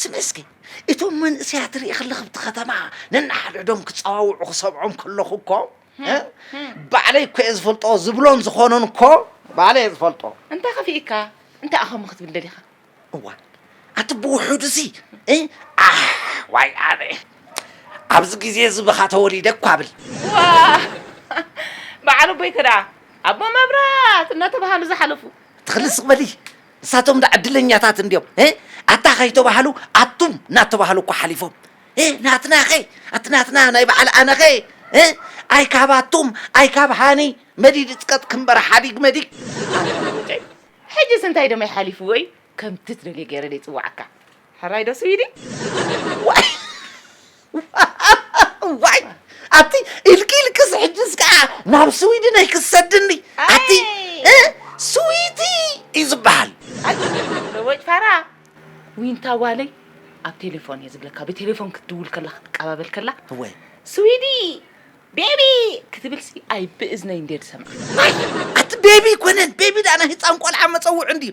ስሚ እስኪ እቶም መንእሰያት ርኢ ከለኽ ኣብቲ ከተማ ነንሓድሕዶም ክፀዋውዑ ክሰምዖም ከለኹ እኮ ባዕለይ እኮ እየ ዝፈልጦ ዝብሎን ዝኾኖን እኮ ባዕለይ እየ ዝፈልጦ እንታይ ከፊእካ እንታይ ኣኸም ክትብል ደሊኻ እዋ ኣቲ ብውሑዱ እዚ ዋይ ኣነ ኣብዚ ግዜ እዚ ብኻ ተወሊደ እኳ ብል በዓል ኣቦይ ከ ደኣ ኣቦ መብራት እናተባሃሉ ዝሓለፉ ትኽልስ በሊ ንሳቶም ዳኣ ዕድለኛታት እንድዮም እ ኣታ ከይተባህሉ ኣቱም ናተባህሉ እኳ ሓሊፎም እ ናትናኸ ኣቲ ናትና ናይ ባዓል ኣነኸ እ ኣይ ካብ ኣቱም ኣይ ካብ ሃኒ መዲድ እጽቀጥ ክንበረ ሓዲግ መዲግ ኣላ ሎሎጨይ ሕጅስ እንታይ ደመይ ሓሊፍዎይ ከምቲ ትደልዮ ገይረ ደይ ጽዋዓካ። ሕራይ ዶ ስዊዲ ዋይ ዋይ ኣቲ ኢልኪ ኢልክስ ሕጅስ ከዓ ናብ ስዊድን ኣይክሰድኒ ኣቲ እ፣ ስዊቲ እዩ ዝበሃል ለቦጭ ፋራ ዊንታ ጓለይ ኣብ ቴሌፎን እየ ዝብለካ ብቴሌፎን ክትድውል ከላ ክትቀባበል ከላ እወ ስዊዲ ቤቢ ክትብልሲ ኣይ ብእዝነይ እንድየ ዝሰምዓ ኣቲ ቤቢ ኮነን ቤቢ ዳኣ ናይ ህፃን ቆልዓ መፀውዒ እንድዩ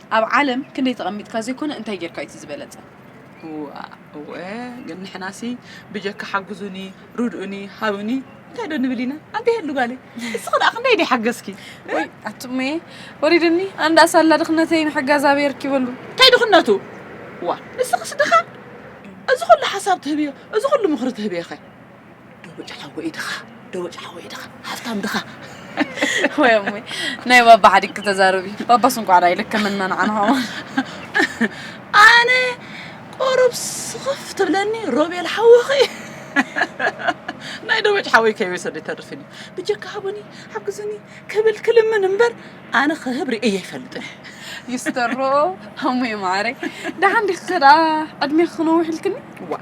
ኣብ ዓለም ክንደይ ተቀሚጥካ ዘይኮነ እንታይ ጌርካ እዩ እቲ ዝበለጸ። እዋእ እወ ግን ንሕናሲ ብጀካ ሓጉዙኒ ርድኡኒ ሃቡኒ እንታይ ዶ ንብል ኢና ኣንተ የሉ ጋለይ እስኺ ደኣ ክንደይ ዲ ሓገዝኪ ወይ ኣቱሜ ወሪድኒ ኣንዳ ሳላ ድኽነተይ ንሕጋዝ ኣበይ ኣርኪበሉ እንታይ ድኽነቱ ዋ ንስኽስ ድኻ እዚ ኩሉ ሓሳብ ትህብዮ እዚ ኩሉ ምኽሪ ትህብዮ ኸ ደቦጭ ሓወይ ድኻ ደቦጭ ሓወይ ድኻ ሃብታም ድኻ ወይ እሙይ ናይ ባባ ሓዲግ ክተዛርብ እዩ ባባስ እንኳዕ ዳይ ልክምና ንዓና ኸማን ኣነ ቆሩብ ስኽፍ ትብለኒ ሮቤል ሓወኺ ናይ ደቦጭ ሓወይ ከይወሰደ ይተርፍን እዩ ብጀካ ሃቡኒ ሓግዙኒ ክብል ክልምን እምበር ኣነ ክህብ ርእየ ይፈልጥን ይስተሮ እሙይ ማዕረይ ደሓን ዲኺ ከደኣ ዕድሜኺ ክነውሕ ኢልክኒ ዋ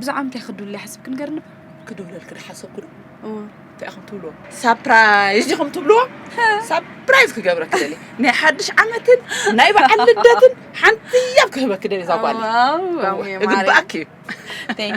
ብዛዕባ ምንታይ ክድውል ይሓስብ ክንገርኒ ክድውለልኪ ዝሓሰብኩ ዶ እንታይ ኢኹም ትብልዎ ሳፕራይዝ ዲኹም ትብልዎ ሳፕራይዝ ክገብረኪ ደሊ ናይ ሓድሽ ዓመትን ናይ በዓል ልደትን ሓንቲ ያብ ክህበኪ ደሊ እዛ ጓል እግባኣኪ እዩ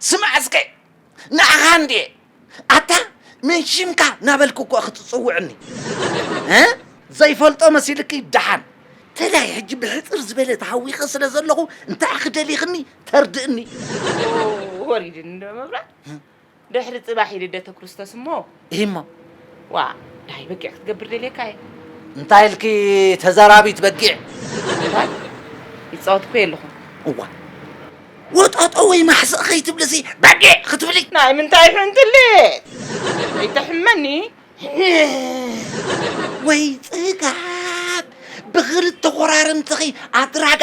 ስማዕ እስከ ንዓኻ እንድየ ኣታ መን ሽምካ ናበልኩ እኮ ኢኺ ትጽውዕኒ ዘይፈልጦ መሲልኪ ደሓን ተላይ ሕጂ ብሕጽር ዝበለ ተሃዊኸ ስለ ዘለኹ እንታይ ኢኺ ደሊኽኒ ተርድእኒ ወሪድኒ ዶ መብራት ድሕሪ ጽባሕ እዩ ልደተ ክርስቶስ እሞ። እሂ'ሞ። ዋእ ደሃይ በጊዕ ክትገብር ደልየካ እየ። እንታይ ኢልኪ ተዛራቢት በጊዕ። እንታይ? ይጻወት እኮ እየ ኣለኹ። እዋ ወጠጦ ወይ ማሕስእ ከይትብልሲ በጊዕ ክትብሊ። ናይ ምንታይ ሕንትሊት! ከይተሕመኒ። ወይ ጽጋብ! ብኽልተ ኮራርምትኺ ኣድራጋ።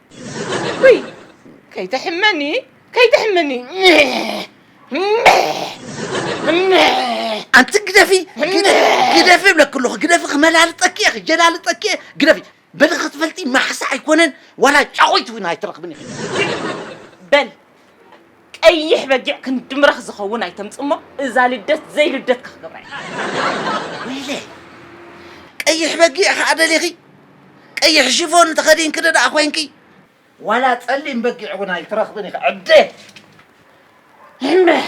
ውይ ከይትሕመኒ ከይትሕመኒ ኣንቲ ግደፊ ግደፊ እብለኪ ኣለኹ ግደፊ ክመላልጠኪ እየ ክጀላልጠኪ እየ ግደፊ በሊ ክትፈልጢ ማሕሳ ኣይኮነን ዋላ ጫቑይ ትብና ኣይትረኽብን ኢኺ በል ቀይሕ በጊዕ ክንዲ ምራኽ ዝኸውን ኣይተምጽሞ እዛ ልደት ዘይ ልደትካ ክገብራ እየ። ወይለ ቀይሕ በጊዕ ከኣ ደሊኺ ቀይሕ ሽፎን ተኸዲንኪ ደኣ ኮንኪ ዋላ ጸሊም በጊዕ እውን ኣይትረኽብን ኢኺ ዕደ እምበሕ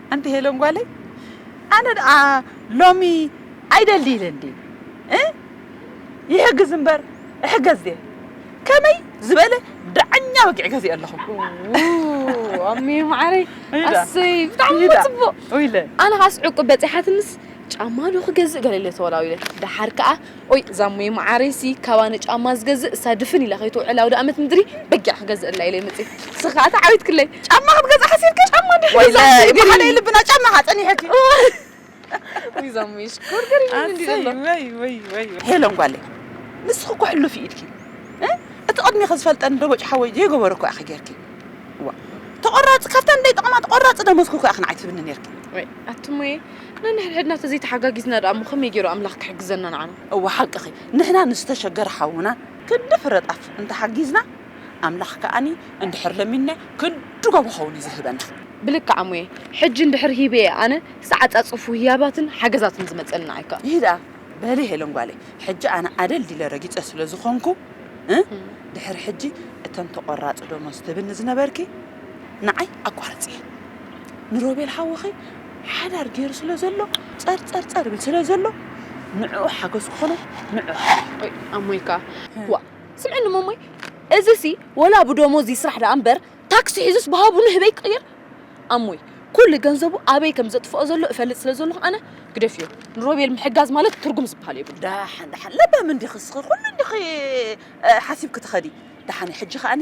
ኣንቲ ሄለን ጓለይ ኣነ ደኣ ሎሚ ኣይደሊ ኢለ እንድየ እ ይሕግዝ እምበር እሕገዝ ድየ ከመይ ዝበለ ዳዕኛ በጊዕ ገዚኦ ኣለኹ ኣሜ ማዓረይ ኣሰይ ብጣዕሚ ፅቡቅ ኣነ ካስ ዕቁብ በፂሓትንስ ጫማ ዶ ክገዝእ ገለ ኢለ ተወላዊለ ደሓር ከዓ ኦይ ዛሙየ መዓረይ ሲ ካባ ንጫማ ዝገዝእ እሳ ድፍን ኢላ ከይትውዕል ኣውዳኣመት ምድሪ በጊዕ ክገዝእላ ኢለይ መጽየ ንስኪ ካኣ ተዓዊትክለይ ጫማ ክትገዝእ ሓሲብክን ጫማ ድሕሪ ገዛእክን ንገሪኒ ብሓደ ልብና ጫማ ካኣ ጸኒሕኪ ኦይ ዛሙየ ሽኮር ገሪሙኒ እንዲዩ ዘሎ ወይ ወይ ወይ ሄለን ጓለይ ንስኪ እኮ ሕሉፍ ኢድኪ እቲ ቅድሜኪ ዝፈልጠኒ ደቦጭ ሓወይ ዘይገበሮ እኮ ኢኪ ጌርኪ ዋእ ተቆራጺ ካብታ ንደይ ጠቅማ ተቆራጺ ደሞዝኪ እኮ ኢኪ ንዓይ ትህብኒ ኔርኪ ወይ ኣቱሙየ ነንሕድሕድና ተዘይተሓጋጊዝና ደኣ እሞ ከመይ ጌሩ ኣምላኽ ክሕግዘና ንዓና? እወ ሓቅኺ ንሕና ንዝተሸገረ ሓውና ክንዲ ፍረ ጣፍ እንተሓጊዝና ኣምላኽ ከኣ እንድሕር ለሚንና ክንድጎ ብኸውን እዩ ዝህበና። ብልክዕ ኣሙየ ሕጂ እንድሕር ሂበ እየ ኣነ ክሳዕ ኣጻጽፉ ህያባትን ሓገዛትን ዝመጸልና ኣይከ። ይህ ደኣ በሊ ሄለን ጓለይ ሕጂ ኣነ ኣደልዲለ ረጊጸ ስለ ዝኾንኩ እ ድሕር ሕጂ እተን ተቆራጺ ደሞዝ ትብልኒ ዝነበርኪ ንዓይ ኣቋርጽየን ንሮቤል ሓውኺ ሓዳር ጌሩ ስለ ዘሎ ጸርጸርጸር ይብል ስለ ዘሎ ንዕኡ ሓገዝ ክኾኖ ንዕኡ ሓግዞ። ኦይ ኣሞይ ከኣ ዋእ ስምዕኒ ሞሞይ እዚሲ ወላ ብዶሞዝ ይስራሕ ደኣ እምበር ታክሲ ሒዙስ ብሃቡ ንህበይ ክቕይር ኣሞይ ኩሉ ገንዘቡ ኣበይ ከም ዘጥፍኦ ዘሎ እፈልጥ ስለ ዘለኹ ኣነ ግደፍዮ ንሮቤል ምሕጋዝ ማለት ትርጉም ዝበሃል የብሉን። ደሓን ደሓን ለባም እንዲኺ እስኺ ኩሉ እንዲኺ ሓሲብኪ ትኸዲ ደሓን ሕጂ ከኣኒ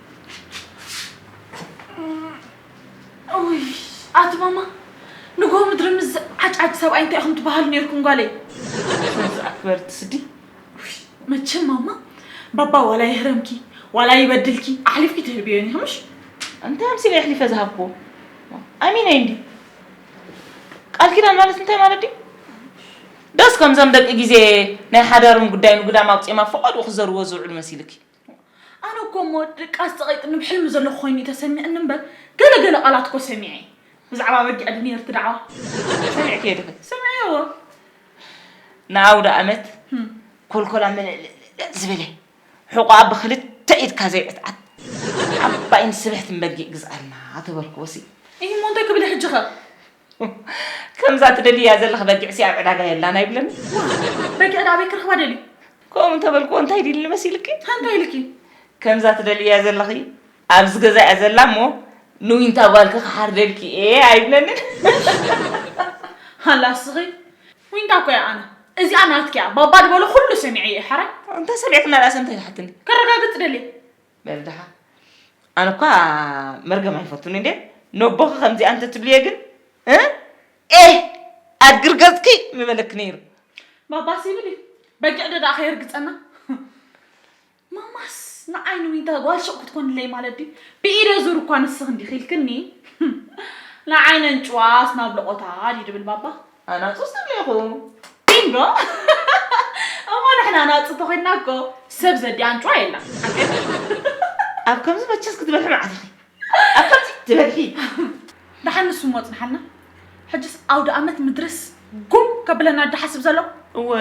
ኣቲ ማማ ንጎ ምድሪ ምስ ዝዓጫጭ ሰብኣይ እንታይ ኢኹም ትበሃሉ ነርኩም ጓለይ? ኣክበርቲ ስዲ መቸም ማማ ባባ ዋላ ይህረምኪ ዋላ ይበድልኪ ኣሕሊፍኪ ትህብዮን ኢኺ ምሽ እንታይ ኣምሲለ ኣሕሊፈ ዝሃብኩዎ ኣሚነይ እንዲ ቃል ኪዳን ማለት እንታይ ማለት ድዩ ደስ ከምዞም ደቂ ግዜ ናይ ሓዳሮም ጉዳይ ንጉዳም ኣውፂኦም ኣብ ፈቐድኡ ክዘርዎ ዝውዕሉ መሲልኪ ኣነ እኮ እሞ ድቃስ ጸቒጥኒ ብሕልሚ ዘለኹ ኮይኑ እዩ ተሰሚዕኒ እምበር ገለ ገለ ቃላት እኮ ሰሚዐ ብዛዕባ ኣበጊዕ ዶ ነይሩ እቲ ዳዕዋ ሰሚዕክዮ ዲኺ? ሰሚዐዮ ንኣውደኣመት ኮልኮላ ምልዕልዕልዕ ዝበለ ሕቖኣ ብኽልተ ኢድካ ዘይዕትዓት ዓባይን ስብሕትን በጊዕ ግዝኣልና ተበልክዎሲ። እሂ እሞ እንታይ ክብል እየ ሕጂኸ? ከምዛ ትደልያ ዘለኺ በጊዕሲ ኣብ ዕዳጋ የላን ኣይብለን በጊዕ ዳበይ ክረኽባ ደልዩ ከምኡ እንተበልክዎ እንታይ ዲልኒ መሲልኪ እንታይ ኢልኪ ከምዛ ትደልያ ዘለኺ ኣብዚ ገዛ እያ ዘላ እሞ ንዊንታ ጓልኪ ክሓርደልኪ እየ ኣይብለንን ሃላ ስኺ ዊንታ እኮ እያ ኣነ እዚኣ ናትኪ እያ ባባ ድበሎ ኩሉ ሰሚዐ እየ ሓራይ እንተ ሰሚዕክና ዳእሰ እንታይ ትሓትኒ ከረጋግፅ ደልየ በልድኻ ኣነ እኳ መርገም ኣይፈቱን እንዴ ነቦኺ ከምዚኣ እንተትብልየ ግን ኤህ ኣድግር ገጽኪ ምበለኪ ነይሩ ባባስ ይብል እዩ በጊዕ ዶ ደኣ ከየርግጸና ማማስ ንዓይ ንዊንታ ጓል ሹቕ ክትኮንለይ ማለት ድዩ ብኢደ ዙር እኳ ንስኺ እንዲኺ ኢልክኒ ንዓይ ነንጭዋስ ናብ ልቖታ ድዩ ድብል ባባ ኣናጹስ ትብሉ ኢኹም ኢንዶ እሞ ንሕና ኣናጹ ተኾይንና እኮ ሰብ ዘዲ ኣንጭዋ የላን ኣብ ከምዚ መቸስ ክትበልሒ መዓት ኢኺ ኣብ ከምዚ ትበልሒ ደሓን ንሱ እሞ ጽንሓልና ሕጅስ ኣውደ ኣመት ምድርስ ጉም ከብለና ድሓስብ ዘሎ እወ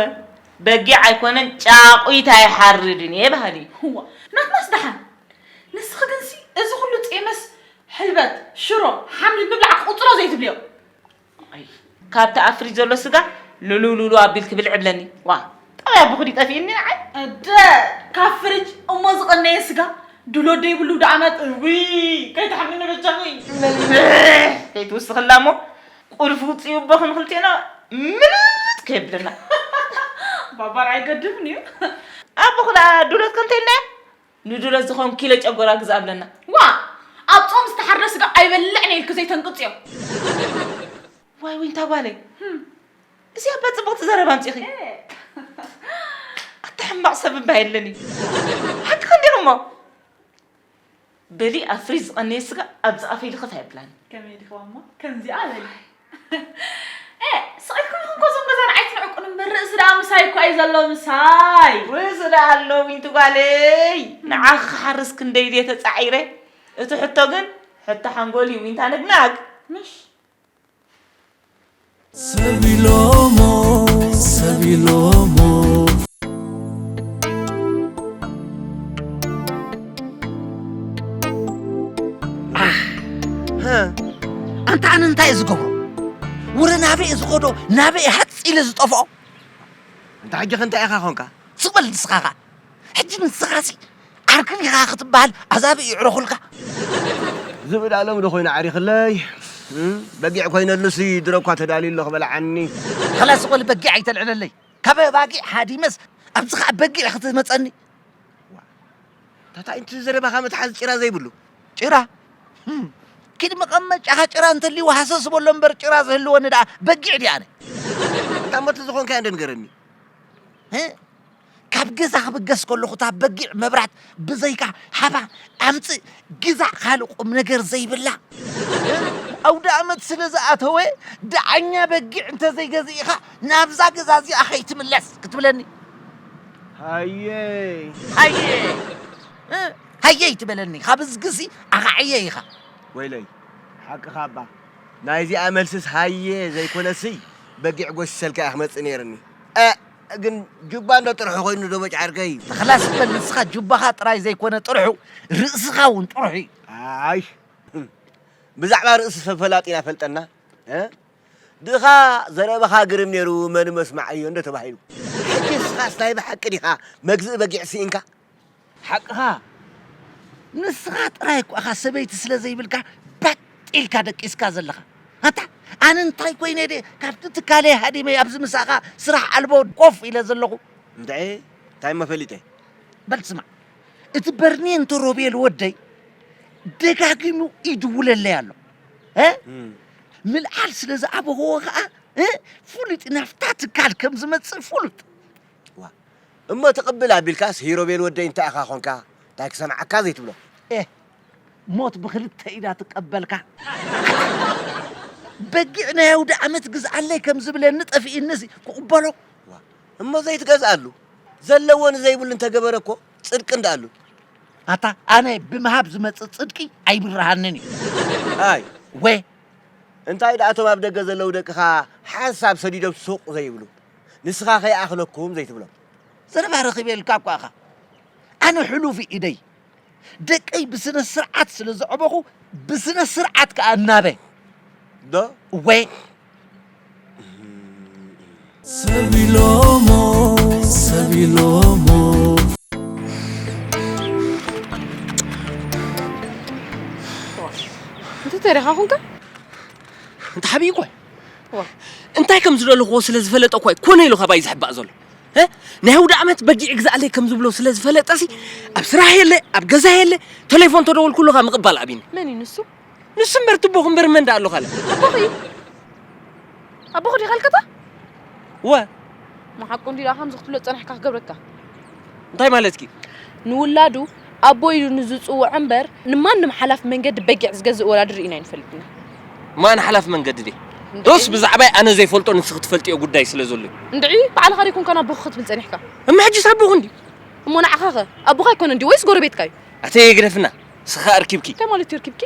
በጊዕ ኣይኮነን ጫቑት ኣይሓርድን እየ በሃሊ እዋ ናትናስ ደሓን ንስኺ ግንሲ እዚ ኩሉ ጼመስ ሕልበት ሽሮ ሓምሊ ምብላዕ ክቁጽሮ ዘይትብልዮ ኣይ ካብቲ ኣብ ፍሪጅ ዘሎ ስጋ ልሉሉሉ ኣቢልኪ ብልዒ እብለኒ ዋእ ጠባይ ኣቦኺ ድዩ ጠፊኡኒ ንዓይ እደ ካብ ፍሪጅ እሞ ዝቐነየ ስጋ ድሎ ደይብሉ ደኣ መጥ እውይ ከይትሓምኒ በጃኺ መልስሕ ከይትውስኽላ እሞ ቁልፊ ውፅኢ ኣቦኺ ንኽልቴና ምልጥ ከየብለና ባባር ኣይገድፍን እዩ ኣቦኺ ደኣ ድሎት ከንተይልና እያ ንድሎት ዝኸውን ኪሎ ጨጎራ ግዛእ ብለና። ዋእ! ኣብ ጾም ዝተሓርደ ስጋ ኣይበልዕን እየ ኢልኪ ዘይተንቅጽዮ። ዋይ ዊንታ ጓለይ እዚ ኣባ ጽብቕቲ ዘረባ ኣምጺኺ። ኣታ ሕማቕ ሰብ እባ የለን እዩ። ሓቅኺ እንዲኺ እሞ በሊ ኣብ ፍሪጅ ዝቐነየ ስጋ ኣብዚ ኣፈይ ልኽፍ ኣይብላን። ከመይ ዲኺዋ እሞ ከምዚኣ በሊ። ኤእ ስቅ ኢልኩም ኢኹም እኮ እዞም ገዛና ኣይትንዕቁን እምበር ርእሲ ደኣ ምሳይ እኮ እዩ ዘሎ ምሳይ። ርእሲ ደኣ ኣሎ ዊንቲ ጓለይ ንዓኺ ክሓርስ ክንደይ ድየ ተጻዒረ እቲ ሕቶ ግን ሕቶ ሓንጎል እዩ ዊንታ ነግናግ። ምሽ ሰቢሎሞ ሰቢሎሞ ኣንታ ኣነ እንታይ እዩ ዝገብሮ ውረ ናበይ እዩ ዝኸዶ ናበይ እዩ ሃፅ ኢለ ዝጠፍኦ እንተ ሕጂ ከ እንታይ ኢኻ ኾንካ ዝበል ንስኻ ኸ ሕጂ ንስኻ ሲ ዓርክን ኢኻ ክትበሃል ኣዛቢ እዩ ዕረኹልካ ዝብኢ ዳሎም ዶ ኮይኑ ዓሪኽለይ በጊዕ ኮይነሉሲ ድሮ እኳ ተዳልዩ ኣሎ ክበልዓኒ ኸላስ ዝበል በጊዕ ኣይተልዕለለይ ካብ ኣባጊዕ ሃዲመስ ኣብዚ ኸዓ በጊዕ ክትመፀኒ ታታ ኢንት ዘረባኻ መትሓዚ ጭራ ዘይብሉ ጭራ ኪድ መቐመጫኻ ጭራ እንተልይዎ ሃሰስ በሎ እምበር ጭራ ዝህልወኒ ደኣ በጊዕ ድየ ኣነ እታ እሞ ተዝኾንካዮ እንዶ ንገረኒ ካብ ገዛ ክብገስ ከለኹ እታ በጊዕ መብራት ብዘይካ ሃባ ኣምፅእ ግዛእ ካልእ ቁም ነገር ዘይብላ ኣውደኣመት ስለ ዝኣተወ ደዓኛ በጊዕ እንተዘይገዚእኻ ናብዛ ገዛ እዚኣ ከይትምለስ ክትብለኒ ሃየይ ሃየይ ሃየይ ትበለኒ ካብ እዝግሲ ኣኻዕየ ኢኻ ወይለይ ሓቅኻ እባ ናይ እዚኣ መልስስ ሃየ ዘይኮነሲ በጊዕ ጎሲሰልካ እየ ክመፅእ ነይርኒ ግን ጁባ እንዶ ጥርሑ ኮይኑ ዶ በጫርከይ ተኽላስ በል ንስኻ ጁባኻ ጥራይ ዘይኮነ ጥርሑ ርእስኻ እውን ጥርሑ እዩ ኣይ ብዛዕባ ርእሲ ሰብ ፈላጢና ፈልጠና ድኻ ዘረባኻ ግርም ነይሩ መን መስማዕ እዮ እንዶ ተባሂሉ። ሕጂ ንስኻስ ናይ ብሓቂ ዲኻ መግዝኢ በጊዕ ሲኢንካ? ሓቅኻ ንስኻ ጥራይ እኮ ኢኻ ሰበይቲ ስለ ዘይብልካ ባጥ ኢልካ ደቂስካ ዘለኻ። ኣታ ኣነ እንታይ ኮይነ ድየ ካብቲ ትካለይ ሃዲመ ኣብዚ ምሳኻ ስራሕ ኣልቦ ኮፍ ኢለ ዘለኹ። እንድዒ እንታይ እሞ ፈሊጠ። በል ስማዕ እቲ በርኔንቶ ሮቤል ወደይ ደጋጊሙ ይድውለለይ ኣሎ። ምልዓል ስለ ዝኣበኸዎ ኸኣ ፍሉጥ ናፍታ ትካል ከም ዝመጽእ ፍሉጥ። እዋ እሞ ትቕብል ኣቢልካስ ሂሮቤል ወደይ እንታይ ኢኻ ኾንካ እንታይ ክሰምዓካ ዘይትብሎ። ኤህ ሞት ብኽልተ ኢዳ ትቀበልካ። በጊዕ ናይ ኣውደኣመት ግዝኣለይ ከም ዝብለኒ ጠፊእኒሲ ክቕበሎ። እሞ ዘይትገዝኣሉ ዘለዎ ንዘይብሉ እንተገበረ እኮ ጽድቅን ደኣ ኣሉ። ኣታ ኣነ ብምሃብ ዝመጽእ ጽድቂ ኣይብርሃንን እዩ። ኣይ ወ። እንታይ ደኣ እቶም ኣብ ደገ ዘለዉ ደቅኻ ሓንሳብ ሰዲዶም ሱቕ ዘይብሉ? ንስኻ ከይኣኽለኩም ዘይትብሎም? ዘረባ ረኺበልካ እኳ ኢኻ። ኣነ ሕሉፍ ኢደይ ደቀይ ብስነ ስርዓት ስለ ዘዕበኹ ብስነ ስርዓት ከኣ እናበ። ዶ? እወ። እንተ ተሪኻ ኹንካ እንተ ሓብይ እኳ እንታይ ከም ዝደለኹዎ ስለ ዝፈለጠ እኳ ኮነ ኢሉ ካባይ ዝሕባእ ዘሎ ናይ ውድ ዓመት በጊዕ ግዛእለይ ከም ዝብሎ ስለ ዝፈለጠሲ ኣብ ስራሕ የለ ኣብ ገዛ የለ ቴሌፎን ተደወልኩሉኻ ምቕባል ኣቢኒ መን እዩ ንሱ ንሱ እምበር ትቦኹ እምበር መን ደኣ ኣሎ ካልእ ኣቦኺ እዩ ኣቦኺ ዲኻ ልከታ ወ ንሓቁ እንዲ ደኣ ከምዚ ክትብሎ ዝጸናሕካ ክገብረካ እንታይ ማለትኪ ንውላዱ ኣቦ ኢሉ ንዝጽውዖ እምበር ንማንም ሓላፍ መንገዲ በጊዕ ዝገዝእ ወላዲ ርኢና ኣይንፈልጥና ማን ሓላፍ መንገዲ ድየ ዶስ ብዛዕባይ ኣነ ዘይፈልጦ ንስኺ ትፈልጥዮ ጉዳይ ስለ ዘሎ እንድዒ ባዕልኻ ደይኮንካ ኣቦኺ ክትብል ጸኒሕካ እማ ሕጂስ ኣቦኺ እንዲ እሞ ንዓኻኸ ኣቦኻ ኣይኮነ እንዲ ወይስ ጎረቤትካ እዩ ኣተይ ግደፍና ንስኺ ኣርኪብኪ። እንታይ ማለት እዩ ኣርኪብኪ?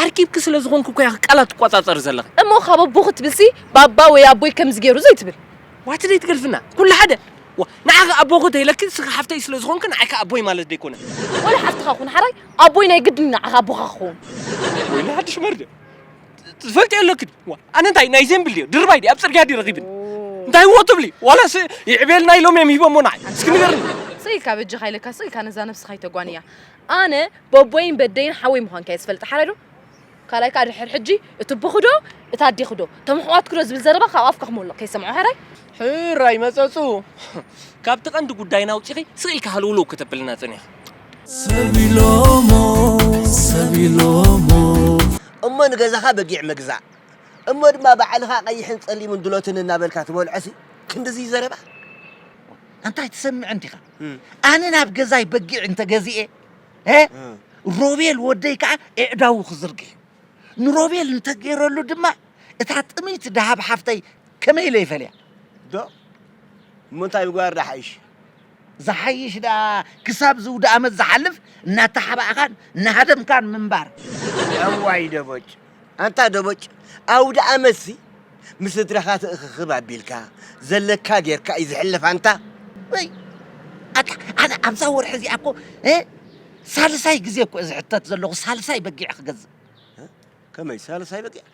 ኣርኪብኪ ስለ ዝኾንኪ እኮ ኢኺ ቃላት ትቆጻጸሪ ዘለኺ። እሞ ካብ ኣቦ ክትብልሲ ባባ ወይ ኣቦይ ከምዚ ገይሩ ዘይትብል? ዋት ደይ ትገልፍና ኩሉ ሓደ ዋ ንዓኺ ኣቦኺ ተይለኪ ንስኺ ሓፍተይ ስለ ዝኾንኪ ንዓይ ከኣ ኣቦይ ማለት ደይኮነ። ወላ ሓፍትኻ ኩን ሓራይ ኣቦይ ናይ ግድን እዩ ንዓኻ ኣቦኻ ክኸውን። ወይኒ ሓድሽ መርገ ትፈልጥዮ ኣለኪ ድዩ? ዋ ኣነ እንታይ ናይ ዜምብል ድዮ ድርባይ ድየ ኣብ ጽርግያ ድየ ረኺብኒ እንታይ እዎ ትብሊ ዋላስ ይዕብየልና ኢሎም እዮም ሂቦሞ ንዓይ እስኪ ንገርኒ። ስቅ ኢልካ በጃኻ ኢለካ ስቅ ኢልካ ነዛ ነብስኻ ኣይተጓንያ። ኣነ በቦይን በደይን ሓወይ ምዃንካ እየ ዝፈልጥ ሓራይ ዶ ካልኣይ ከኣ ድሕር ሕጂ እቲ ቦኹ ዶ እቲ ኣዴኹ ዶ እቶም ኣሕዋትኩ ዶ ዝብል ዘረባ ካብ ኣፍካ ክሞልቕ ከይሰምዖ ሓራይ ሕራይ መጸጹ ካብቲ ቀንዲ ጉዳይና ኣውጺኺ ስቅ ኢልኪ ሃልውልው ከተብልና ጸኒሕኺ። ሰብ ኢሎሞ ሰብ ኢሎሞ። እሞ ንገዛኻ በጊዕ ምግዛእ እሞ ድማ ባዕልኻ ቀይሕን ጸሊምን ድሎትን እናበልካ ትበልዖሲ ክንድዚ ዘረባ ኣንታይ ትሰምዕ እንዲኻ። ኣነ ናብ ገዛይ በጊዕ እንተገዚኤ ሮቤል ወደይ ከዓ ኤዕዳዉ ክዝርግ እዩ ንሮቤል እንተገይረሉ ድማ እታ ጥምይቲ ደሃብ ሓፍተይ ከመይ ኢለ ይፈልያ ዶ እሞ እንታይ ምግባር ዳሓይሽ ዝሓይሽ ደኣ ክሳብ ዝውዲ ዓመት ዝሓልፍ እናተሓባእኻን እናሃደምካን ምንባር እዋይ ደቦጭ ኣንታ ደቦጭ ኣውድኣመትሲ ምስ ስድራኻ ትእኽኽብ ኣቢልካ ዘለካ ጌርካ እዩ ዝሕለፍ ኣንታ። ወይ ኣታ ኣነ ኣብዛ ወርሒ እዚኣ እኮ ሳልሳይ ግዜ እኮ ዝሕተት ዘለኹ ሳልሳይ በጊዕ ክገዝእ። ከመይ ሳልሳይ በጊዕ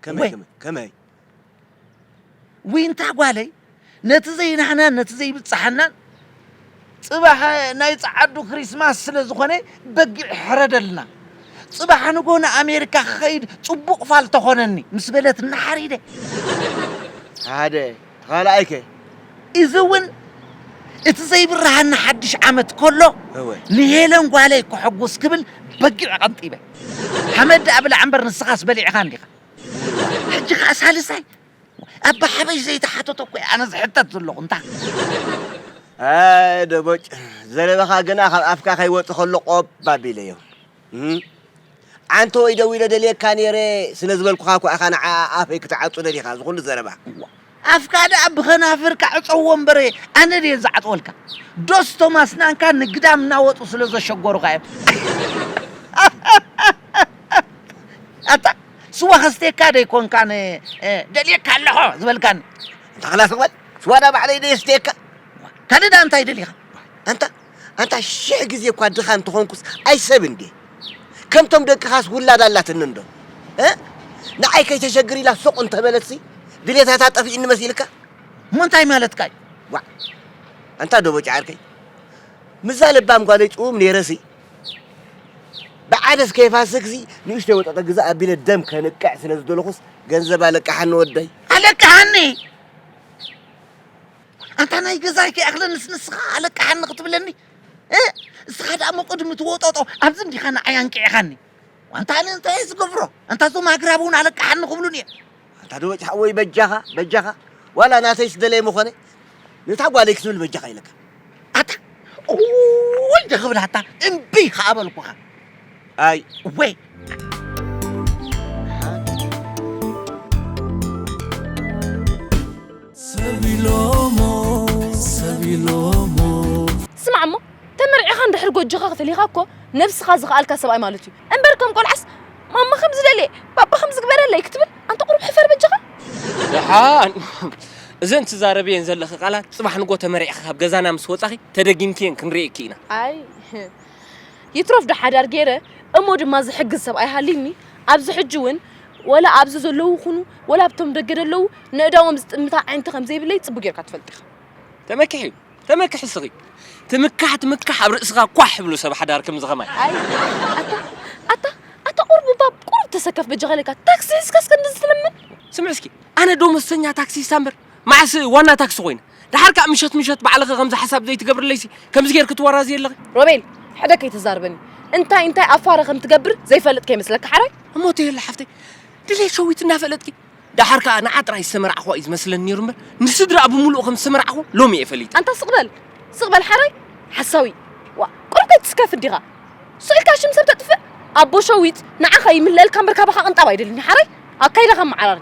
ከመይ ከመይ ከመይ ዊንታ ጓለይ ነቲ ዘይናህናን ነቲ ዘይብጽሓናን ጽባሕ ናይ ጸዓዱ ክሪስማስ ስለ ዝኾነ በጊዕ ሕረደልና ጽባሕ ንጎ ንኣሜሪካ ክኸይድ ጽቡቕ ፋል ተኾነኒ ምስ በለት እናሓሪደ ሓደ ተኻልኣይከ እዚ እውን እቲ ዘይብርሃና ሓድሽ ዓመት ከሎ ንሄለን ጓለይ ክሕጉስ ክብል በጊዕ ቐንጢበ ሓመድ ደኣ ብላዕ እምበር ንስኻስ በሊዕኻ እንዲኻ ሕጂ ከኣ ሳልሳይ ኣባ ሓበሽ ዘይተሓተቶ እኮ እየ ኣነ ዝሕተት ዘለኹ እንታ ኣይ ደቦጭ ዘረባኻ ግና ካብ ኣፍካ ከይወፅ ከሎ ቆብ ኣቢለዮ ዓንተ ወይ ደዊለ ደልየካ ነይረ ስለ ዝበልኩኻ እኳ ኢኻ ንዓ ኣፈይ ክትዓፁ ደሊኻ ዝኹሉ ዘረባ ኣፍካ ደኣ ብኸናፍርካ ዕጸዎ እምበር ኣነ ድየ ዝዓጽወልካ? ዶስ እቶም ኣስናንካ ንግዳም እናወጹ ስለ ዘሸገሩኻ እዮም? ኣታ ስዋ ከስትየካ ደይኮንካ ን ደልየካ ኣለኹ ዝበልካኒ? ኣታ ክላስ በል ስዋ ደኣ ባዕለይ ደየስትየካ ካልእ ደኣ እንታይ ደሊኻ ኣንታ ኣንታ ሽሕ ግዜ እኳ ድኻ እንተ ኾንኩስ ኣይሰብ እንድየ ከምቶም ደቅኻስ ውላድ ኣላትኒ እንዶ እ ንዓይ ከይተሸግር ኢላ ሱቕ እንተ በለትሲ ድሌታታ ጠፊእኒ መሲልካ እሞ እንታይ ማለትካ እዩ ዋዕ ኣንታ ዶቦጭ ዓርከይ ምዛ ለባም ጓለይ ጽውም ነይረሲ ብዓደስ ከይፋስክሲ ንእሽተይ ወጠጠ ግዛ ኣቢለ ደም ከንቅዕ ስለ ዝደለኹስ ገንዘብ ኣለቅሓኒ ወደይ ኣለቅሓኒ ኣንታ ናይ ገዛይ ከይኣኽለንስ ንስኻ ኣለቃሓኒ ክትብለኒ እስኻ ደኣ መቆድሚ ትወጦጦ ኣብዚ እንዲኻ ንዓይ ኣንቂዕኻኒ ዋንታ ኣነ እንታይ ዝገብሮ ኣንታ እዞም ኣግራብ እውን ኣለቃሓኒ ክብሉን እየ ኣንታ ደወጭ ሓወይ በጃኻ በጃኻ ዋላ ናተይ ስደለየ ምኾነ ነታ ጓለይ ክትብል በጃኻ ኢለካ ኣታ ወይ ደኽብላታ እምቢ ከኣ በልኩኻ ኣይ እወይ ስማዕ እሞ ተመርዒኻ እንድሕር ጎጆኻ ክፈሊኻ እኮ ነብስኻ ዝኸኣልካ ሰብኣይ ማለት እዩ እምበር ከም ቆልዓስ ማማ ከም ዝደልየ ባባ ከም ዝግበረለይ ክትብል ኣንተ ቁሩብ ሕፈር በጃኻ ደሓን እዘን ትዛረብየን ዘለኺ ቃላት ፅባሕ ንጎ ተመሪዕኺ ካብ ገዛና ምስ ወፃኺ ተደጊምክየን ክንርእየኪ ኢና ኣይ ይትረፍ ዶ ሓዳር ገይረ እሞ ድማ ዝሕግዝ ሰብኣይ ሃልዩኒ ኣብዚ ሕጂ እውን ወላ ኣብዚ ዘለዉ ኩኑ ወላ ኣብቶም ደገ ዘለዉ ነእዳዎም ዝጥምታ ኣዒንቲ ከም ዘይብለይ ጽቡቅ ጌርካ ትፈልጥ ኢኻ። ተመክሒ ተመክሒ እስኺ ትምካሕ ትምካሕ ኣብ ርእስኻ ኳሕ ይብሉ ሰብ ሓዳር ከምዚ ከማይ። ኣይ ኣታ ኣታ ኣታ ቁሩብ እባ ቁሩብ ተሰከፍ በጃኻ ኢለካ ታክሲ ሒዝካስ ክንድዚ ትልምን። ስምዕ እስኪ ኣነ ዶሞዝተኛ ታክሲስታ እምበር መዓስ ዋና ታክሲ ኮይነ። ደሓር ከኣ ምሸት ምሸት ባዕልኺ ከምዚ ሓሳብ ዘይትገብርለይሲ ከምዚ ጌርኪ ትወራዝይ ኣለኺ ሮቤል ሕደ ከይተዛርበኒ እንታይ እንታይ ኣፋረ ከም ትገብር ዘይፈልጥ ከይመስለካ ሓራይ እሞ ተየላ ሓፍተይ ድሌት ሸዊት እናፈለጥኪ ደሓር ከኣ ንዓ ጥራይ ዝተመራዕኹዋ እዩ ዝመስለኒ ነይሩ እምበር ንስድራኣ ብምሉኡ ከም ዝተመራዕኹ ሎሚ እየ ፈሊጠ ኣንታ ስቕ በል ስቕ በል ሓራይ ሓሳዊ ዋ ቁሩብ ኣይትስከፍ እንዲኻ ስኢልካ ሽም ሰብ ተጥፍእ ኣቦ ሸዊት ንዓኻ ይምለአልካ እምበር ካባኻ ቅንጣብ ኣይደልን ሓራይ ኣካይዳኻ መዓራሪ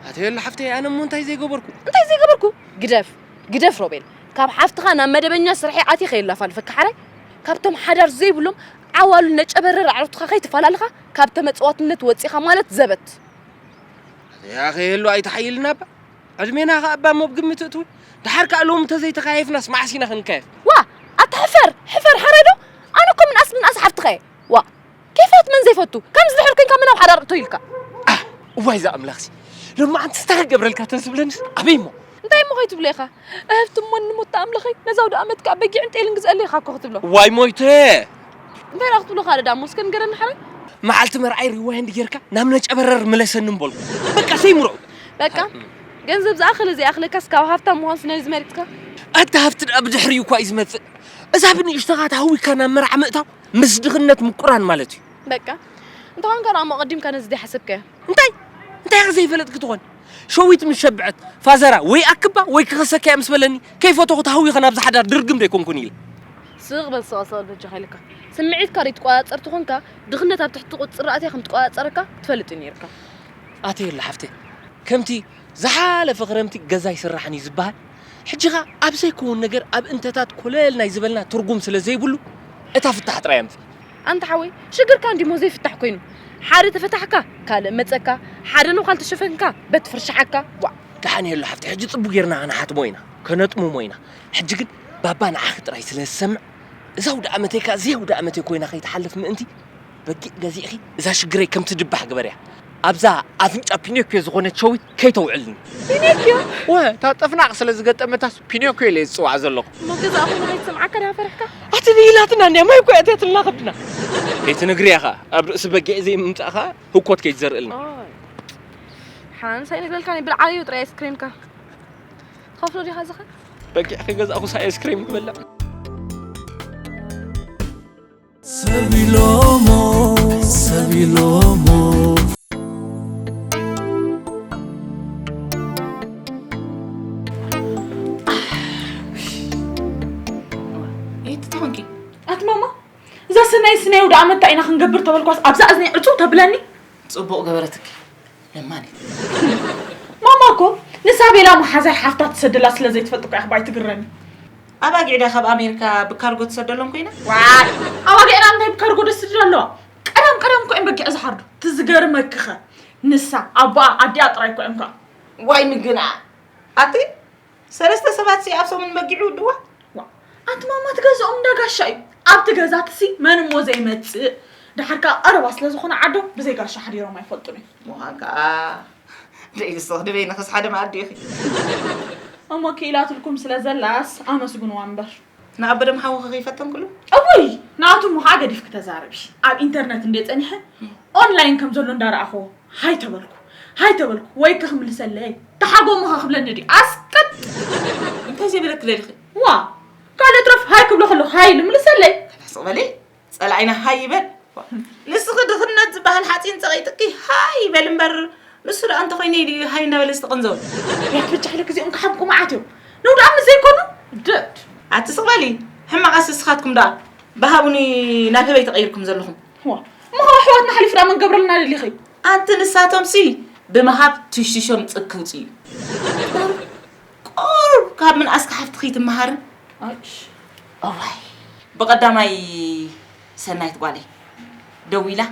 ኣተዮላ ሓፍተይ ኣነ እሞ እንታይ ዘይገበርኩ እንታይ ዘይገበርኩ ግደፍ ግደፍ ሮቤል ካብ ሓፍትኻ ናብ መደበኛ ስርሐይ ኣትየ ከየላፋልፈካ ሓራይ ካብቶም ሓዳር ዘይብሎም ዓዋሉ ነጨበረር ኣዕሩትኻ ከይትፈላልኻ ካብ ተመጽዋትነት ወጺኻ ማለት ዘበት ያ ከየሉ ኣይተሓይልና እባ ዕድሜና ከ እባ እሞ ብግምት እትው ድሓር ከኣ ሎሚ ተዘይተካየፍናስ መዓስ ኢና ክንካየፍ ዋ ኣታ ሕፈር ሕፈር ሓራይ ዶ ኣነ እኮ ምንኣስ ምንኣስ ሓፍትኻ እየ ዋ ኬፋት መን ዘይፈቱ ከምዚ ድሕር ኮንካ መን ኣብ ሓዳር እቶ ኢልካ እዋይ እዛ ኣምላኽሲ ሎማዓንቲ ስታር ገብረልካ ተዝብለንስ ኣበይ እሞ እንታይ እሞ ከይትብሎ ኢኻ እህብቲ እሞ ንሞታ ኣምላኸይ ነዛ ውድኣመት ከኣ በጊዕን ጤልን ግዝኣለይ ኢኻ እኮ ክትብሎ ዋይ ሞይተ እንታይ ደኣ ክትብሎ ካልእ ደኣ እሞ እስከ ንገረኒ ሓረይ መዓልቲ መርዓይ ሪዋይንድ ጌርካ ናብ ነጨበረር ምለሰኒ እምበልኩ በቃ ሰይምሮ በቃ ገንዘብ ዝኣኽል ዘይኣኽለካስ ካብ ሃብታም ምዃን ስነ ዝመሪፅካ ኣታ ሃብቲ ደኣ ብድሕሪኡ እኳ እዩ ዝመፅእ እዛ ብንእሽተኻ ተሃዊካ ናብ መርዓ ምእታው ምስ ድኽነት ምቁራን ማለት እዩ በቃ እንተኾን ከ ንኣሞ ቀዲምካ ነዚ ዘይሓሰብከ እንታይ እንታይ ከ ዘይፈለጥ ክትኾን ሸዊት ምስ ሸብዐት ፋዘራ ወይ ኣክባ ወይ ክኸሰከያ ምስ በለኒ ከይፈተኹ ተሃዊኸ ናብዚ ሓዳር ድርግም ደይኮንኩን ኢለ ስቕ በል ስቕ ስቕ በጃኻ ኢለካ ስምዒትካ ዘይትቆፃፀር ትኾንካ ድኽነት ኣብ ትሕቲ ቁፅፅር ኣትያ ከም ትቆፃፀረካ ትፈልጥ እዩ ነይርካ ኣትየላ ሓፍተይ ከምቲ ዝሓለፈ ክረምቲ ገዛ ኣይስራሕን እዩ ዝበሃል ሕጂ ከኣ ኣብ ዘይከውን ነገር ኣብ እንተታት ኮለል ናይ ዝበልና ትርጉም ስለ ዘይብሉ እታ ፍታሕ ጥራይ ኣምጽእ። ኣንታ ሓወይ ሽግርካ እንዲሞ ዘይፍታሕ ኮይኑ ሓደ ተፈታሕካ ካልእ መጸካ ሓደ ነዃል ተሸፈንካ በቲ ፍርሽሓካ ዋእ። ደሓን የሎ ሓፍተይ ሕጂ ጽቡቅ ጌርና ክንሓትሞ ኢና ከነጥምሞ ኢና ሕጂ ግን ባባ ንዓኺ ጥራይ ስለ ዝሰምዕ እዛ ኣውደኣመተይ ከኣ ዘይኣውደኣመተይ ኮይና ከይትሓልፍ ምእንቲ በጊዕ ገዚእኺ እዛ ሽግረይ ከም ትድባሕ ግበርያ። ኣብዛ ኣፍንጫ ፒኖክዮ ዝኾነት ሸዊት ከይተውዕልኒ። ፒኖክዮ? እወ፣ እታ ጥፍናቕ ስለ ዝገጠመታስ ፒኖክዮ ኢለ እየ ዝጽውዓ ዘለኹ። እሞ ገዛእ ኹሉ ከይትሰምዓካ ድኣ ፈሪሕካ? ኣትንሂ ኢላትና እንድያ፣ ማይ እኮ እያ ኣእትያትልና ከብድና። ከይትነግርያ ኸኣ ኣብ ርእሲ በጊዕ ዘይምምጻእ ኸኣ ህኮት ከይትዘርእልና። ሓንሳእ ይነግረልካ ነይ ብልዓዮ ጥራይ ኣይስክሬምካ። ትኸፍሎ ዲኻ እዚ ኸ? በጊዕ ከይገዛእኹስ ኣይስክሬም ክበልዕ? እዛ ሰናይ ስናይ ወደ ኣመታ ኢና ክንገብር ተበልኳስ ኣብዛ እዝኒ ዕፁ ተብለኒ ፅቡቅ ገበረትኪ ለማኒ ማማ እኮ ንሳቤላ መሓዛይ ሓፍታ ትሰደላ ስለ ዘይትፈልጥ እኮ ኣሕባይ ትግረኒ ኣባጊዕ ድያ ካብ ኣሜሪካ ብካርጎ ትሰደሎም ኮይና ዋይ ኣባጊዕና እንታይ ብካርጎ ደስድድ ኣለዋ ቀደም ቀደም እኮ እዮም በጊዕ ዝሓርዱ ትዝገርመክኸ ንሳ ኣቦኣ ኣዲኣ ጥራይ እኮ እዮም ከዓ ዋይ ምግና ኣቲ ሰለስተ ሰባት ሲ ኣብ ሰሙን መጊዑ ይውድዋ ኣንቲ ማማ ትገዝኦም እንዳ ጋሻ እዩ ኣብቲ ገዛት ሲ መን እሞ ዘይመፅእ ድሓር ከዓ ቀረባ ስለ ዝኾነ ዓዶም ብዘይ ጋሻ ሓዲሮም ኣይፈልጡን እዩ ምዃን ከዓ ደይልስ ተኽድበይ ንኽስ ሓደ መኣዲ ኢኺ እሞ ክኢላትልኩም ስለ ዘላስ ኣመስግንዋ እምበር ንኣቦ ደም ሓዊ ከከይፈተን ኩሉ እውይ ንኣቶም ውሃ ገዲፍኪ ተዛረቢ ኣብ ኢንተርነት እንደ ጸኒሐ ኦንላይን ከም ዘሎ እንዳረኣኹዎ ሃይ ተበልኩ ሃይ ተበልኩ ወይ ክክምልሰለይ ተሓጎሙ ከክብለኒ ድዩ ኣስቅጥ እንታይ ዘይበለኪ ደሊኺ ዋ ካልእ ትረፍ ሃይ ክብሎ ከለኹ ሃይ ኢሉ ምልሰለይ ሕስቕ በሊ ጸላኢና ሃይ ይበል ንስኺ ድኽነት ዝበሃል ሓፂን ፀቒጥኪ ሃይ ይበል እምበር ንሱ ደኣ እንተኾይነ ኢሉ ሃይ እንዳበለ ዝተቐንዘው ያት ብቻለ ግዚኦም ክሓምቁ መዓት እዮም ነው ደኣ ምስ ዘይኮኑ ደድ ኣትስቕ በሊ ሕማቓስ እስኻትኩም ደኣ ብሃቡኒ ናብ ህበይ ተቐይርኩም ዘለኹም እሞ ካብ ኣሕዋትና ሓሊፉ ደኣ መን ገብረልና ደሊኺ ኣንቲ ንሳቶምሲ ብምሃብ ትሽሾም ፅግ ክውፅ እዩ ቁሩብ ካብ ምንኣስኪ ሓፍቲ ክይትመሃሪ እዋይ ብቀዳማይ ሰናይት ጓለይ ደዊላ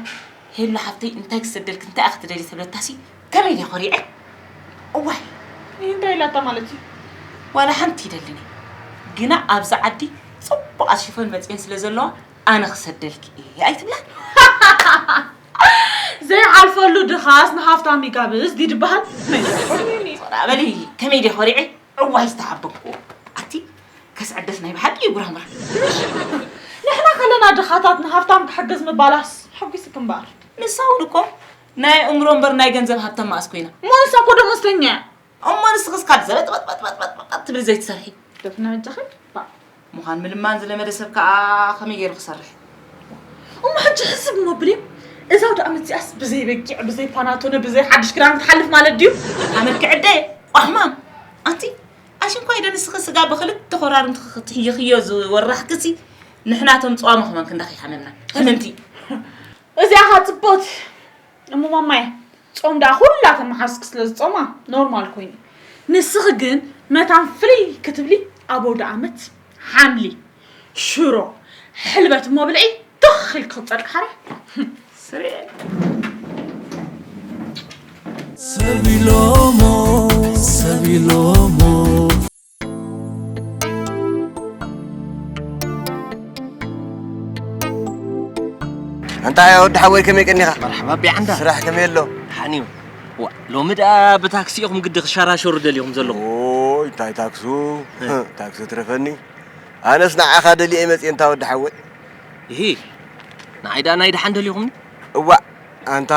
ሄሉ ሓፍተይ እንታይ ክሰደልኪ እንታይ ኢኪ ትደልይ ተብለታሲ ከመይ ድየ ኮሪዐ እዋይ እንታይ ኢላታ ማለት እዩ ዋላ ሓንቲ ይደልኒ ግና ኣብዚ ዓዲ ፅቡቃት ሽፎን መፅየን ስለ ዘለዋ ኣነ ክሰደልኪ እየ ኣይትብላን ዘይዓርፈሉ ድኻስ ንሃፍታም ይጋብዝ ድዩ ድበሃል? ራ በሊ ከመይ ድየ ኮሪዐ ዕዋይ ዝተሓበኩዎ ኣቲ ከስዕደስ ናይ ብሓቂ እዩ ጉራምራ ንሕና ከለና ድኻታት ንሃፍታም ክሕግዝ ምባላስ ሕጒስክ እምበኣር ንሳ እውን እኮ ናይ ኣእምሮ እምበር ናይ ገንዘብ ሃብታም መኣስ ኮይና እሞ ንሳ እኮ ደሞዝተኛ እያ እሞ ንስኽስ ካብ ዘበጥበጥበጥበጥበጥ ትብል ዘይትሰርሒ ደፍና እጃኺ ምዃን ምልማን ዝለመደ ሰብ ከዓ ከመይ ገይሩ ክሰርሕ እሞ ሕጂ ሕስብ እሞ ብልዩ እዛ ወደ ዓመት እዚኣስ ብዘይ በጊዕ ብዘይ ፓናቶነ ብዘይ ሓድሽ ክዳን ክትሓልፍ ማለት ድዩ ዓመት ክዕደ ቋሕማም ኣንቲ ኣሽንኳ ኢደ ንስኺ ስጋ ብክልተ ኮራርምቲ ክትሕይኽዮ ዝወራሕክሲ ንሕናቶም ፀዋሚ ክመን ክንዳ ከይሓመምና ሕምምቲ እዚኣ ኻፅቦት እሞ ማማየ ጾም ደኣ ኩላተን መሓዙትኪ ስለ ዝጾማ ኖርማል ኮይኑ ንስኺ ግን መታን ፍልይ ክትብሊ ኣብ ኣውደኣመት ሓምሊ ሽሮ ሕልበት እሞ ብልዒ ትኽ ኢልኪ ክትጸድቂ ሓራ ስርየል ሰቢሎሞ ሰቢሎሞ ኣንታ ወዲ ሓወይ ከመይ ቀኒኻ መርሓባ ቢዓንዳ ስራሕ ከመይ ኣሎ ሓኒዩ ዋ ሎሚ ደኣ ብታክሲ ኢኹም ግዲ ክሸራሸሩ ደሊኹም ዘለኹም ኦይ እንታይ ታክሱ ታክሱ ትረፈኒ ኣነስ ንዓኻ ደልየ መፅየ እንታ ወዲ ሓወይ ይሂ ንዓይ ደኣ ናይ ደሓን ደሊኹምኒ እዋእ ኣንታ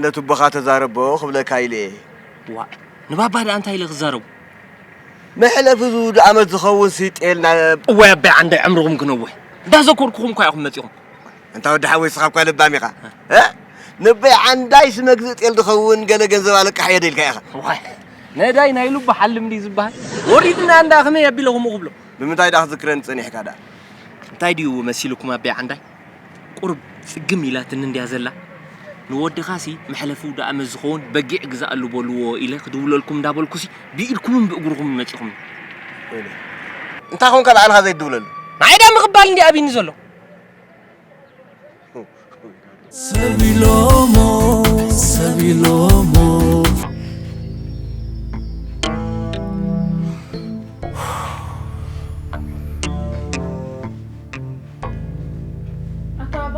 ነቱቦኻ ተዛረቦ ክብለካ ኢለ እየ ዋ ንባባ ደኣ እንታይ ኢለ ክዛረቡ መሕለፊ ዝውድ ኣመት ዝኸውን ስይጤል ናብ እዋይ ኣባይ ዓንዳይ ዕምርኹም ክነውሕ እንዳዘኮርኩኹም እኳ ኢኹም መጺኹም እንታ ወዲ ሓወይ ስኻ እኳ ለባም ኢኻ ንበይ ዓንዳይ ስመግዝእ ጤል ዝኸውን ገለ ገንዘብ ኣለቃሕ እየ ደልካ ኢኻ ዋይ ነዳይ ናይ ሉባ ሓልም ድዩ ዝበሃል ወሪድና እንዳ ከመይ ኣቢለ ከምኡ ክብሎ ብምንታይ ዳ ክዝክረኒ ጸኒሕካ ዳ እንታይ ድዩ መሲልኩም ኣባይ ዓንዳይ ቁሩብ ጽግም ኢላትኒ እንድያ ዘላ ንወድኻሲ መሕለፊ ውዳእመት ዝኸውን በጊዕ ግዛኣሉ በልዎ ኢለ ክድውለልኩም እንዳበልኩሲ ብኢድኩምን ብእግርኹምን መጺኹምኒ። ወይለይ እንታይ ኮንካ ባዕልኻ ዘይትድውለሉ። ንዓይ ድኣ ምቕባል እንድዩ ኣብይኒ ዘሎ። ሰብ ኢሎሞ ሰብ ኢሎሞ ኣታባ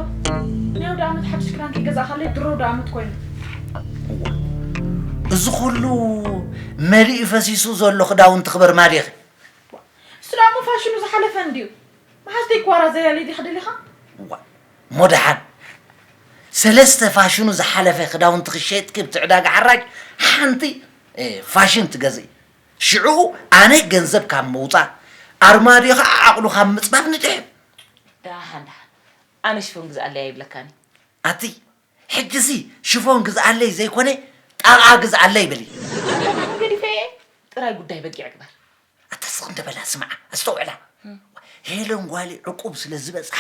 ናይ ወደ ዓመት ሓድሽ ክዳን ከይገዛእኻለይ ድሮ ወደ ዓመት ኮይኑ እዚ ኩሉ መሊኡ ፈሲሱ ዘሎ ክዳውንቲ ክበር ማዲኺ እሱ ዳሞ ፋሽኑ ዝሓለፈ እንድዩ መሓዝተይ ክዋራ ዘያለ ዲኻ ደሊኻ እሞ ደሓን ሰለስተ ፋሽኑ ዝሓለፈ ክዳውንቲ ክሸጥኪ ብቲ ዕዳጋ ሓራጅ ሓንቲ ፋሽን ትገዝእ ሽዕኡ ኣነ ገንዘብ ካብ ምውጻእ፣ ኣርማድዮ ከኣ ዓቕሉ ካብ ምጽባብ ንድሕን። ደሓን ደሓን ኣነ ሽፎን ግዝኣለይ ኣይብለካን እየ። ኣቲ ሕጂሲ ሽፎን ግዝኣለይ ዘይኮነ ጣቓ ግዝኣለይ በሊ። ሽፎን ገዲፈዮ እየ፣ ጥራይ ጉዳይ በጊዕ ግበር። ኣታ ስቕ እንደ በላ ስምዓ፣ ኣስተውዕላ። ሄለን ጓለይ ዕቁብ ስለ ዝበጽሓ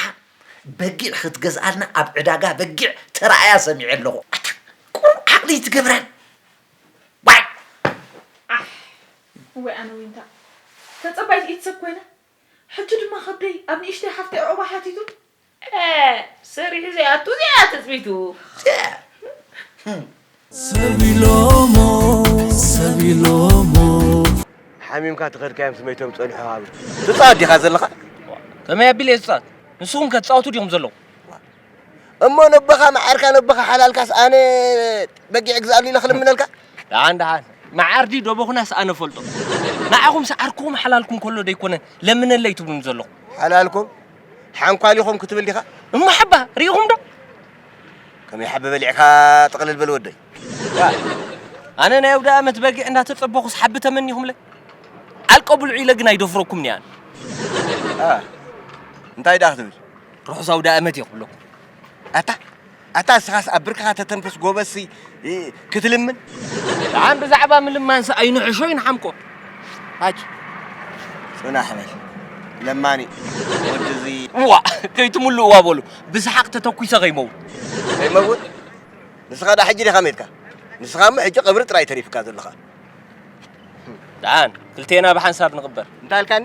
በጊዕ ክትገዝኣልና ኣብ ዕዳጋ በጊዕ ተራእያ ሰሚዐ ኣለኹ። ኣታ ቁሩብ ዓቕሊ ኣይትገብራን? ዋይ ዓሕ እዋይ ኣነ ዊንታ ተጸባይቲ ኢት ሰብ ኮይነ ሕጂ ድማ ከብደይ ኣብ ንእሽተይ ሓፍተይ ዑቕባ ሓቲቱ ኤእ ሰሪሑ ዘይኣቱ እዚኣ እያ ትጽቢቱ ሰብ ኢሎሞ ሰብ ኢሎሞ። ሓሚምካ ተኸድካዮም ስመይቶም ጸንሑ ሃብር ትጻወት ዲኻ ዘለኻ? ከመይ ኣቢለ እየ ዝጻወት ንስኹም ከ ትጻወቱ ዲኹም ዘለኹም? እሞ ነቦኻ መዓርካ ነቦኻ ሓላልካስ ኣነ በጊዕ ግዝኣሉ ኢለ ክልምነልካ ደሓን ደሓን መዓር ድዩ ደቦኹናስ ኣነ ፈልጦ ንዓኹም ሰዓርኩም ሓላልኩም ከሎ ደይኮነ ለምነለይ ትብሉኒ ዘለኹም ሓላልኩም ሓንኳሊኹም ክትብል ዲኻ እሞ ሓባ ርኢኹም ዶ ከመይ ሓቢ በሊዕካ ጥቕልል በል ወደይ ኣነ ናይ ኣውደ ኣመት በጊዕ እንዳተጸበኹስ ሓቢ ተመኒኹምለ ዓልቀ ብልዑ ኢለ ግን ኣይደፍረኩምኒ ኣነ እንታይ ደኣ ክትብል ርሑስ ኣውዳእመት እየ ክብለኩም ኣታ ኣታ እስኻስ ኣብ ብርክኻ ተተንፍስ ጎበዝሲ ክትልምን ኣን ብዛዕባ ምልማንሲ ኣይንሕሾ ይንሓምቆ ኣጭ ፅናሕ በል ለማኒ ወዲ እዚ እዋ ከይትምሉ እዋ በሉ ብስሓቅ ተተኩሰ ከይመውት ከይመውት ንስኻ ዳ ሕጂ ዲኻ ሜትካ ንስኻ እሞ ሕጂ ቀብሪ ጥራይ ተሪፍካ ዘለኻ ደኣን ክልቴና ብሓንሳብ ንቕበር እንታይ ኣልካኒ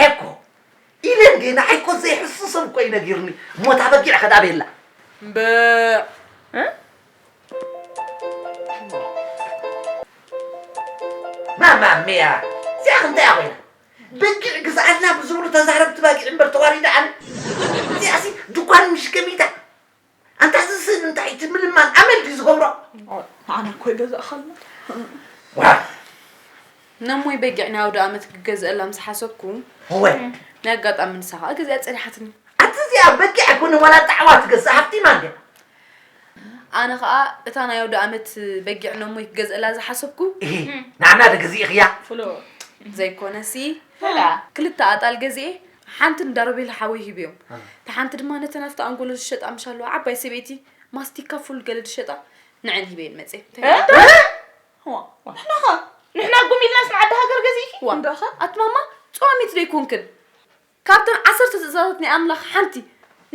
ዔኮ ኢለ እንዴ ንዓይኮ ዘይሕሱ ሰብ እኮ እዩ ነጊሩኒ እሞ እታ በጊዕ ከ ዳቤላ እምበዕ ማማሜያ እዚኣ ከ እንታይ እያ ኮይና በጊዕ ግዝኣልና ብዝብሉ ተዛረብቲ ባጊዕ እምበር ተዋሪዳ ኣነ እዚኣሲ ድኳን ምሽከሚታ ኣንታ እዚ ስእሊ እንታይ እዩ እቲ ምልማን ኣመል ድዩ ዝገብሮ ንዓና እኮ ይገዛእኻልና ነሞይ በጊዕ ናይ ኣውደኣመት ክገዝአላ ምስ ሓሰብኩ ወይ ናይ ኣጋጣሚ ንሳ ከዓ ገዚኣ ፀኒሓትኒ ኣቲ እዚኣ በጊዕ ኣይኮነ ዋላ ጣዕዋ ትገዝእ ሃብቲማ እንድያ ኣነ ከዓ እታ ናይ ኣውደ ኣመት በጊዕ ነሞ ይገዝእላ ዝሓሰብኩ ንዓና ዶ ገዚእኽያ ዘይኮነሲ ክልተ ኣጣል ገዚኤ ሓንቲ ንዳሮቤል ሓወይ ሂብዮም እታ ሓንቲ ድማ ነተን ኣብቲ ኣንጎሎ ዝሸጣ ምሻ ኣለዋ ዓባይ ሰበይቲ ማስቲካ ፉል ገለ ዝሸጣ ንዐን ሂበየን መፅየ ንሕና ኸ ንሕና ጉም ኢልናስ ንዓዲ ሃገር ገዚእኪ ዋ እንዳኸ ኣትማማ ፀዋሚት ዶ ኣይኮንክን ካብተን ዓሰርተ ትእዛዛት ናይ ኣምላኽ ሓንቲ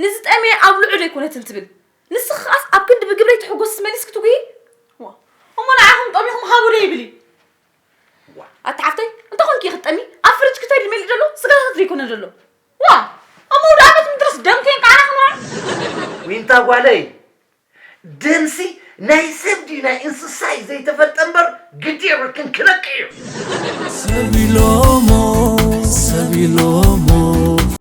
ንዝጠመየ ኣብልዑ ዶ ኣይኮነትን ትብል ንስኺ ኸዓስ ኣብ ክንዲ ብግብረይ ትሕጎስስ መሊስኪ ትጉሂ እሞ ንዓኹም ጠሚኹም ሃቡ ዶ ይብል እዩ ኣቲ ሓፍተይ እንተኾንኪ ክትጠሚ ኣብ ፍርጅ ክተሪ መሊ ዘሎ ስጋታት ዘይኮነ ዘሎ ዋ ኣብ መውዳእነት ምድረስ ደም ከይንቃዕና ክንዋ ዊንታ ጓለይ ደምሲ ናይ ሰብ ድዩ ናይ እንስሳ እዩ ዘይተፈልጠ እምበር ግዲ የብልክን ክነቅዕ እዩ ሰብ ኢሎሞ ሰብ ኢሎሞ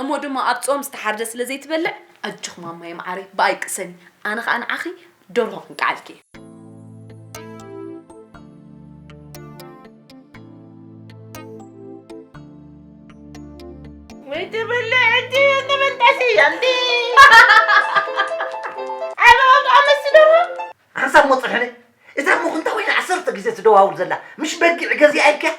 እሞ ድማ ኣብ ጾም ዝተሓርደ ስለ ዘይትበልዕ ኣጆኺ ማማየ መዓረይ ብኣይ ቅሰኒ ኣነ ከኣ ንዓኺ ደርሆ ክንቀዓልኪ እየ። ወይ ትብልዕ እንዲ እንብል ጠስያ እንዲ ዓበባ ኣመስሲ ደርሆ ሓንሳብ ሞጽ ሕነ እዛ ሞኽንታ ወይኒ ዓሰርተ ግዜ ትደዋውል ዘላ ምሽ በጊዕ ገዚኣ ኢልኪያ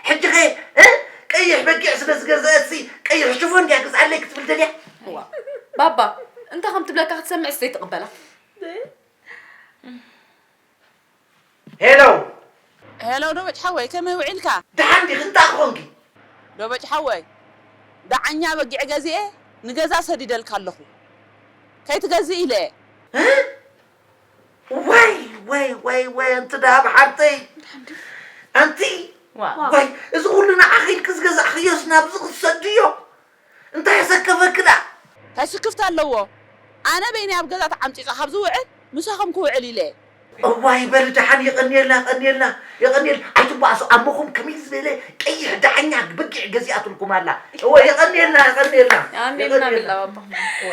ሕጂኸ እ ቀይሕ በጊዕ ስለ ዝገዘአትሲ ቀይሕ ሽፎን ድያ ግዝኣለይ ክትብል ደልያ እዋ ባባ እንታይ ከም ትብለካ ክትሰምዕስ ዘይትቕበላ ሄሎ ሄሎ ዶበጭ ሓወይ ከመይ ውዒልካ ደሓን ዲኺ እንታይ ክኾንኪ ዶበጭ ሓወይ ደዓኛ በጊዕ ገዚኤ ንገዛ ሰዲደልካ ኣለኹ ከይትገዝእ ኢለ እየ እ ወይ ወይ ወይ ወይ ኣንቲ ደሃብ ሓብተይ ኣንቲ ወይ እዚ ኩሉ ንዓኺ ኢልኪ ዝገዛእኽዮስ ናብዚ ክሰዱ እዮ እንታይ ኣሰከፈኪ ደኣ ታይ ስክፍታ ኣለዎ ኣነ በይነይ ኣብ ገዛ ተዓምጺጸ ካብ ዝውዕል ምሳኹም ክውዕል ኢለ። እዋይ በሊ ደሓን የቐንየልና የቐንየልና የቐንየል ኣይትጓዓሱ ኣሞኹም ከመይ ዝበለ ቀይሕ ዳሕኛ በጊዕ ገዚኣትልኩም ኣላ እወ የቐንየልና የቐንየልና ኣሜን ኣሜን የቐንየልና ኣባ እወ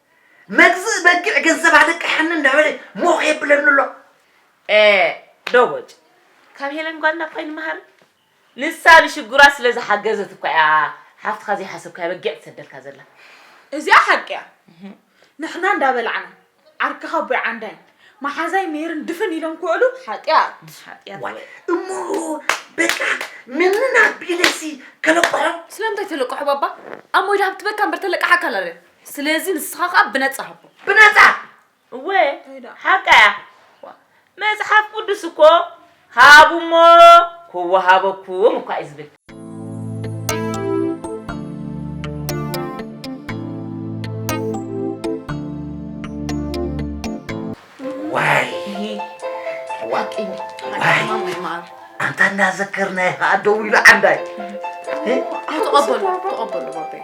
መግዝእ በጊዕ ገንዘብ ኣለቅሓኒ እንዳበለ ሞኽ የብለኒ ኣሎ። ዶቦጭ ካብ ሄለን ጓልና እኳ ኣይንመሃርን ንሳ ንሽግሯት ስለ ዝሓገዘት እኳ እያ ሓፍትካ ዘይሓሰብካያ በጊዕ ትሰደልካ ዘላ እዚኣ ሓቂ እያ ንሕና እንዳበላዕና ዓርክኻ ኣቦይ ዓንዳይን መሓዛይ ሜርን ድፍን ኢሎም ክውዕሉ ሓጢኣት ዋይ እሞ በቃ ነንና ቢለሲ ከለቅሖም ስለምንታይ ተለቅሖ ባባ ኣሞይ ድሃብ ትበካ እምበር ተለቅሓካ ኣላለ ስለዚ ንስኻ ከኣ ብነጻ ሃቦ ብነጻ እወ ሓቃ እያ መጽሓፍ ቅዱስ እኮ ሃቡ እሞ ክወሃበኩም እኳ እዩ ዝብል ኣንታ እናዘከርናዮ ከዓ ደው ኢሉ ዓንዳይ ተቐበሉ ተቐበሉ ባበይ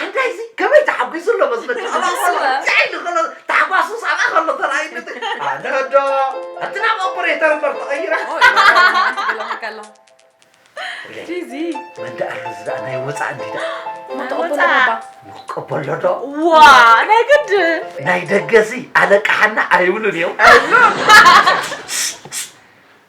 ሓጋይዚ ከመይ ተሓጒሱ ኣሎ መስለኪ ኣብኣ ከሎ ዝዓይኒ ከሎ ታሕጓሱስ ኣብኣ ከሎ ተራእዩኒ እቲ ኣነ ዶ እቲ ናብ ኦፐሬተር እምበር ተቐይረ ፊዚ ወንዲ ኣሎ እዚ ደኣ ናይ ወፃእ እንዲ ደኣ ንቀበሎ ዶ ዋ ናይ ግድን ናይ ደገ እዚ ኣለቃሓና ኣይብሉን እዮም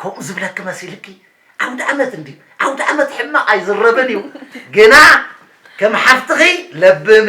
ከምኡ ዝብለኪ መሲልኪ ኣውድኣመት እንድዩ ኣውድኣመት ሕማቅ ኣይዝረብን እዩ ግና ከም ሓፍትኺ ለብሚ